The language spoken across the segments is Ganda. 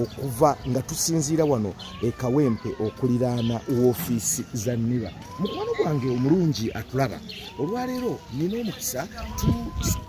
okuva nga tusinziira wano e kawempe okuliraana woofiisi za niba mukwano gwange omulungi atulaba olwaleero nina omukisa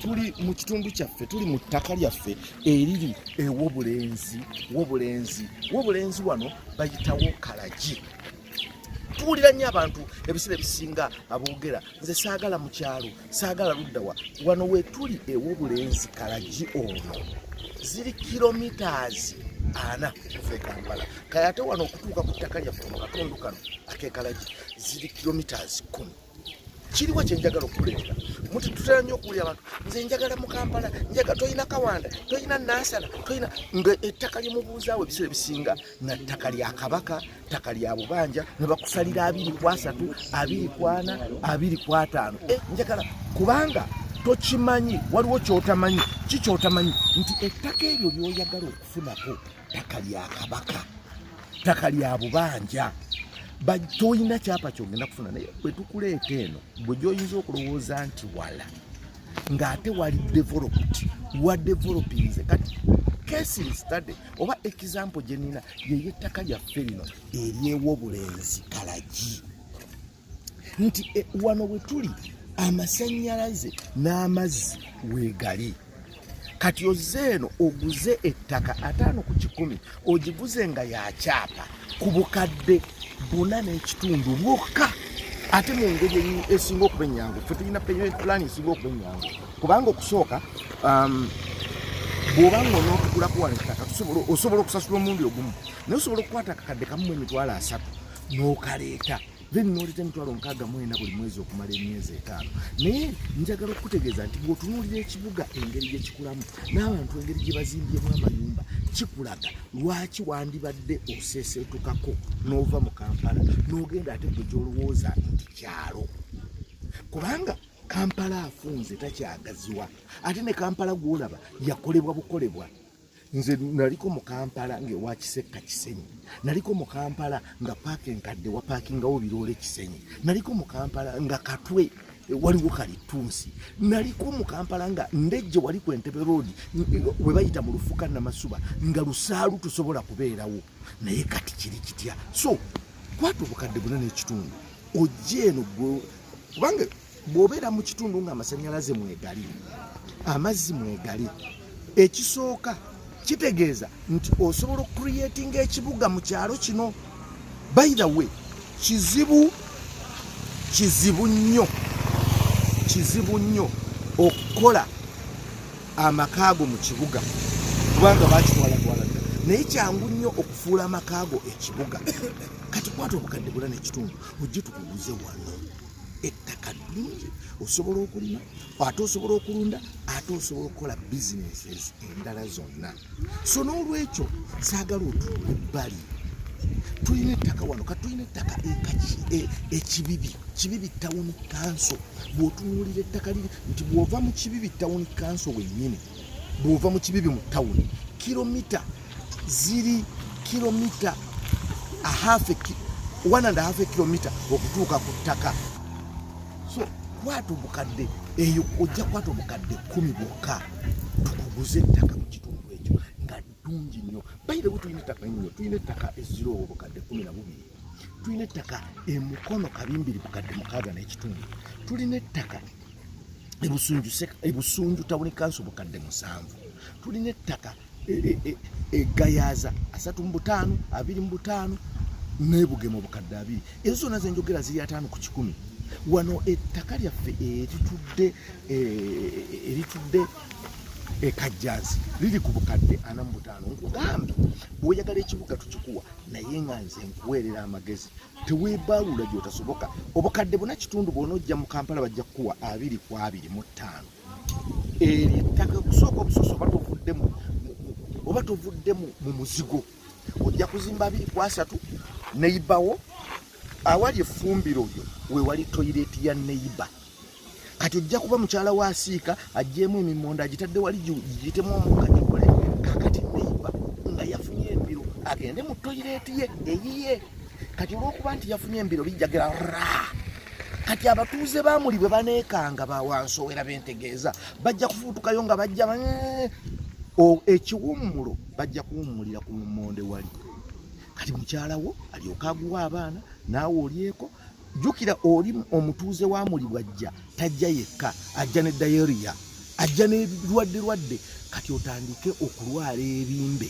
tuli mu kitundu kyaffe tuli mu ttaka lyaffe eriri ewobulenzi wobulenzi wobulenzi wano bayitawo kalagi tuwulira nnyo abantu ebiseera ebisinga aboogera nze saagala mu kyalo saagala ludda wa wano wetuli ew'obulenzi kalagi ono ziri kilomitaazi ana okuva ekampala kale ate wano okutuuka ku ttaka lyaffe mu katundu kano akekalagi ziri kilomitaazi kumi kiriwo kyenjagala okuleeta muti tutera nnyo okuwulira abantu nze njagala mu kampala njaga tolina kawanda tolina nansana tolina nga ettaka lyemubuuzaawo ebiseera ebisinga na ttaka lya kabaka ttaka lya bubanja ne bakusalira abiri ku asatu abiri ku ana abiri ku ataano eh, njagala kubanga tokimanyi waliwo kyotamanyi ki kyotamanyi nti ettaka eryo lyoyagala okufunako ttaka lya kabaka ttaka lya bubanja tolina kyapa kyogenda kufuna naye bwetukuleeta eno bwe gyoyinza okulowooza nti wala ng'ate wali developed wa developinze kati case study oba example gyenina yeyo ettaka lyaffe lino eryewo obulenzi kalagi nti e, wano we tuli amasannyalaze n'amazzi weegali kati ozze eno oguze ettaka ataano ku kikumi ogiguze nga yakyapa ku bukadde buna n'ekitundu bwokka ate mu ngeri esinga okuba ennyangu fe tulina peyment plan esinga okuba ennyangu kubanga okusooka um, bwoba nga onotugula kuwala ettaka osobola okusasula omundi ogumu naye osobola okukwata akakadde kamumu emitwalo asatu n'okaleeta then noleta emitwalo nkaaga mwena buli mwezi okumala emyezi etaano naye njagala okukutegeeza nti bwotunuulira ekibuga engeri gyekikulamu n'abantu engeri gye bazimbyemu amayumba kikulaga lwaki wandibadde oseseetukako n'ova mu kampala n'ogenda ate gwe gyolowooza nti kyalo kubanga kampala afunze takyagaziwa ate ne kampala gwolaba yakolebwa bukolebwa nze naliko mu kampala ngaewakisekka kisenyi naliko mu kampala nga paaka enkadde wapaakingawo biroole kisenyi naliko mu kampala nga katwe eh, waliwo kalitunsi naliko mu kampala nga ndejje wali ku entebe road eh, we bayita mu lufuka namasuba nga lusaalu tusobola kubeerawo naye kati kiri kitya so kwata obukadde buna n'ekitundu ojja eno kubanga bw'obeera mu kitundu ng'amasannyalaze mwegali amazzi mwegali ekisooka kitegeeza nti osobola okucreatinga ekibuga mu kyalo kino by the way kizibu kizibu nnyo kizibu nnyo okukola amakaago mu kibuga kubanga bakitwalatwala naye kyangu nnyo okufuula amakaago ekibuga kati kwata obukadde bula nekitundu ojje tukuguze wano ettaka ddungi osobola okulima ate osobola okulunda ate osobola okukola businesses endala zonna so n'olwekyo saagala otunga ebbali tulina ettaka wano ka tulina ettaka e, ekibibi kibibi tawuni kanso bw'otunuulira ettaka liri nti bw'ova mu kibibi tawuni kanso wennyini bw'ova mu kibibi mu tawuni kilomita ziri kilomita ahafe one and half kilomita okutuuka ku ttaka so kwata obukadde eyo ojja kwata obukadde kumi bwokka tukuguze ettaka mu kitundu ekyo nga ddungi nnyo bayirewo tulina ettaka nnyo tulina ettaka eziroowo obukadde kumi na bubiri tulina ettaka emukono kabimbiri bukadde mukaaga n'ekitundu tulina ettaka ebusunju tawuni kansi obukadde musanvu tulina ettaka egayaza e, e, e, asatu mu butaano abiri mu butaano nebugema obukadde abiri ezo zona zenjogera ziri ataano ku kikumi wano ettaka lyaffe eritudde eritudde ekajjansi liri ku bukadde ana mu butaano nkugamba bwoyagala ekibuga tukikuwa naye nga nze nkuweerera amagezi teweebaaluula gyotasoboka obukadde buna kitundu bwona ojja mu kampala bajja kukuwa abiri ku abiri mu ttaano eryo ettaka kusooka obusoso oba tovuddemu oba tovuddemu mu muzigo ojja kuzimba abiri ku asatu neyibawo awali efumbiro lyo wewali toyireti ya neyiba kati ojja kuba mukyala wa asiika ajjeemu emimonda agitadde wali giyitemu omukka gikole kakati neyiba nga yafunye embiro agende mu toyireti ye eyiye kati olwokuba nti yafunye embiro bijjagira raa kati abatuuze bamuli bwe baneekanga bawansowera bentegeeza bajja kufuutukayo nga bajja eh, ekiwummulo bajja kuwummulira ku lumonde wali kati mukyalawo alyoka aguwa abaana naawe olyeko jjukira oli omutuuze wa muli bwajja tajja yekka ajja ne dayeriya ajja nebirwadde lwadde kati otandike okulwala ebimbe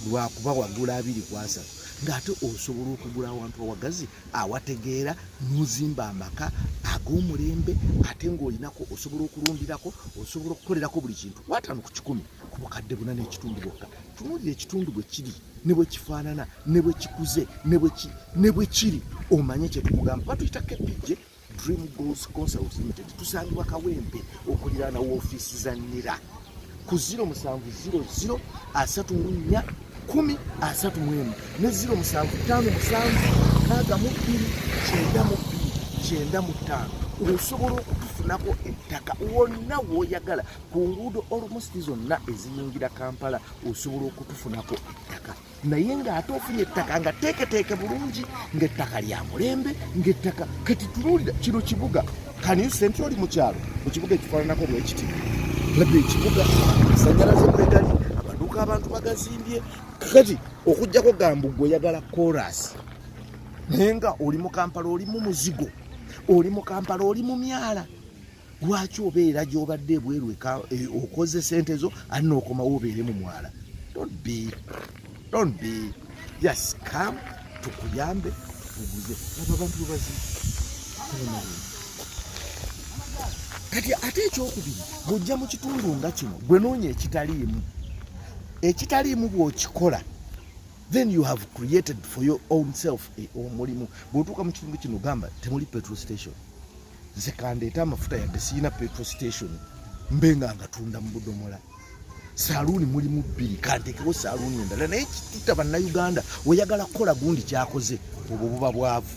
lwakuba wagula abiri kwasatu ng'ate osobola okugula awantu awagazi awategeera n'ozimba amaka ag'omulembe ate ng'olinako osobola okulundirako osobola okukolerako buli kintu wataano ku kikumi ku bukadde buna n'ekitundu bwokka tunuulira ekitundu bwe kiri ne bwe kifaanana ne bwe kikuze ne bwe kiri omanye kye tukugamba batuyita kepijje Dream Goals Consult Limited tusangibwa Kawempe okuliraana woofiisi za NIRA ku 0700 asatu mu nnya kumi asatu mu emu ne 0755 kyenda mu ttaano osobola okutufunako ettaka wonna w'oyagala ku nguudo olumusi zonna eziyingira Kampala osobola okutufunako ettaka. naye ng'ate ofunye ettaka nga teeketeeke bulungi ng'ettaka lya mulembe ng'ettaka kati tunuulira kino kibuga kanisa enti oli mu kyalo mu kibuga ekifaananako bwekiti laba ekibuga asanyalaze mwegali amaduuka abantu bagazimbye kati okugyako gambu gwe oyagala korasi naye nga oli mu kampala oli mu muzigo oli mu kampala oli mu myala lwaki obeera gyobadde ebweru e, okoze sente zo ani nookomawo obeere mu mwala don't be don't be just come tukuyambe tukuguze abo abantu bebazi kati ate ekyokubiri bwojja mu kitundu nga kino gwe noonya ekitaliimu ekitaliimu bwokikola then you have created for your own self eh, omulimu bwotuuka mu kitundu kino gamba temuli petrol station nze kandeeta amafuta yadde siyina petro station mbe nga ngatunda mu budomola saluuni mulimu bbiri kantekewo saluuni endala naye kituta bannayuganda oyagala kukola gundi kyakoze obwo buba bwavu